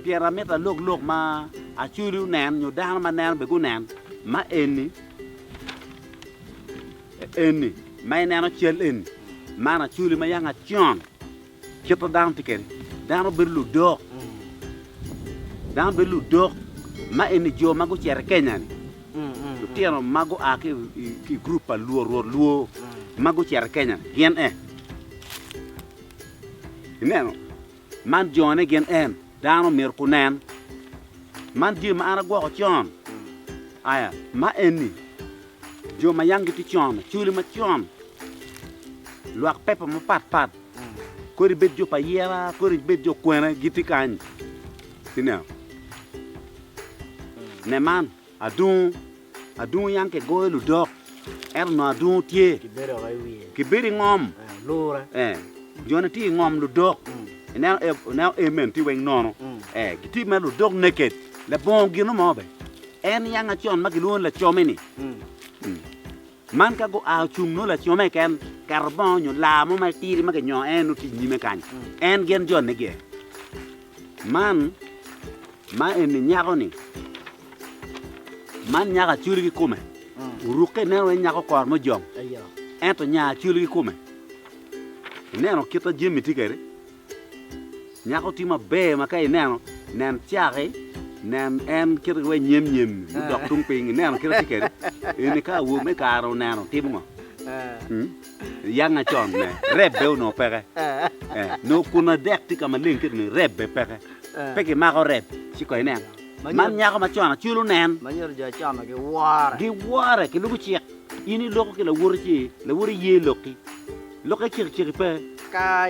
Pien amito alok lok ma acwali onen, nyo dano ma neno bene gunen ma eni, eni, ma ineno cal eni, man acwali ma yanga con. Kit ma dano tye kwede, dano bedo ludok, dano bedo ludok ma eni jo ma gucito i Kenya-ni, lutino ma gua ki i gurup pa Luo, rwod Luo ma gucito i Kenya gin en. Ineno, man jone gin en, dano myero gunen. Man jami ma an agwoko con, aya ma eni jo ma yam gitye con, Acholi macon, lwak pepa mapatpat Kodi bed jo pa yera, kodi bed jo kwene, gitye kany. Ineno? Ne man, adungu, adungu yam kigoyo ludok, ento nongo adungu tye. Kibedo woko i wiye. Kibedo i ngom. Eh, lura. Eh, jone tye i ngom ludok. Mm. Ineno, eh, ineno em meno tye weng nono. Mm. Eh, gitye mere ludok naked. Labongo gino mo be. En yanga con ma gilwongo ni lacome-ni. Mm. Mm. Man ka gua ocung nongo laco me keken keto bongo nyo laa mo ma tidi ma kinyongo en nongo tye inyime kany en gin jone gi man ma eni nyako ni man nyako acwali kikome oruke ineno wai nyako kor mujong ento nya acwali kikome ineno kita jami tye kede. Nyako tye maber ma ka ineno, nen cake, nen en kite ki wai nyemnyem-mi mudok tung piny, ineno kite tye kede. Eni ka awobi me kare oneno, timo ngo? Yanga con ne, rebbe onongo peke. Nongo kun adek tye ka maleng kit ni rebbe peke. Pe ki mako reb ci kong inen. Man nyako ma con aculu nen. Ma nyuto jo con-nu giwore. Giwore, ki lubo cik. In iloko ki lawoti ci, lawoti ye lok-ki. Lokke cekiceki pe. Ka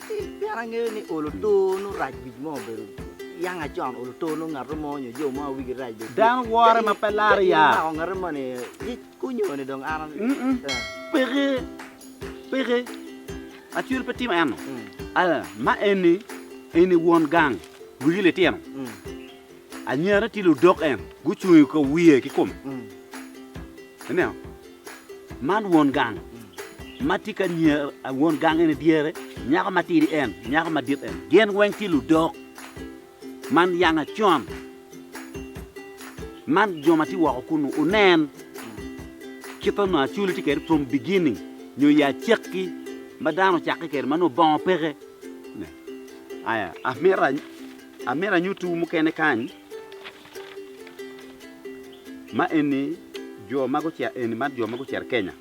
pien angeyo ni olo to nongo rac wic mo obedo yanga con olo to nongo ngato mo nyo jo mo wigi rac bene dano wore ma pe laro ya mako ngate mo ni kunyo ni dong an peke peke acwil pe timo eno aya ma eni eni won gang wigi litino anyirane tye ludok en gucung i kom wiye ki kome ineno Man won gang ma tye ka nya, won gang eni dyere, nyako matidi en, nyako madit en. Gin weng tye ludok ma niyang acon. Man jo ma tye woko kunu, wunen kit onongo Acoli tye kwede from beginning, nyo i acakki ma dano ocakke kwede ma nongo bongo peke. Aya, amito, amito anyuttiwu mukene kany. Ma eni jo ma gucito eni man jo ma gucito Kenya.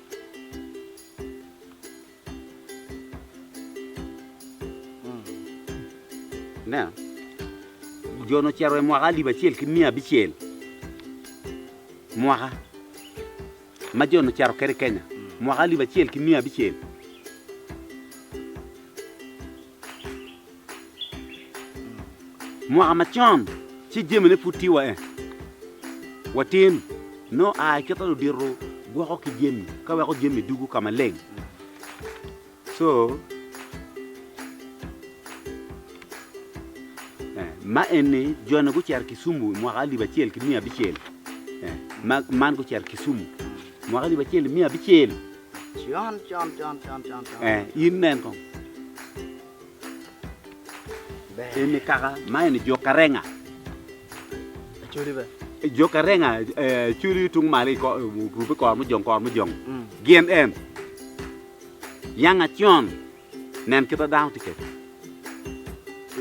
Ineno? Jo-ni ocito i mwaka alip acel ki miya abicel mwaka ma jo-ni ocito kwede i Kenya mwaka alip acel ki miya abicel. Mwaka macon, ci jamine pud tye wa en watin, nongo aa i kite ludito gwoko ki jami ka weko jami dugu ka maleng. Co ma eni jone gucito Kisumu i mwaka alip acel ki miya abicel, man gucito Kisumu i mwaka alip acel ki miya abicel. In nen kong eni kaka ma eni jo karenga jo karenga culu tung malo orube kor mujong kor mujong gin en yanga con Nen kit ma dano tye kede.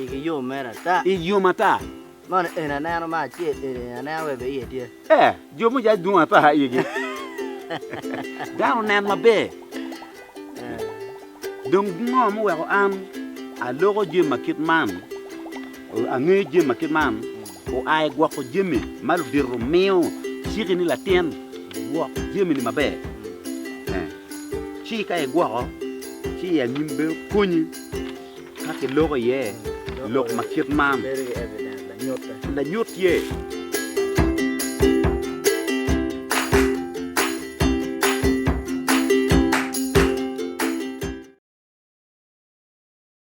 Igi yom mere ata. Igi yom ata. Mono eni aneno ma acel eni aneno wek iye tye. Ee, jo me jac dwong ata igi. Dano nen maber. Dong ngo muweko an aloko jami ma kit man, angeyo jami ma kit man? Oa i gwoko jami ma ludito miyo ciki ni latin, gwok jamini maber. Ci ka igwoko, ci i anyim bene konyi ka kiloko iye lok ma kit man. Lanyut tye.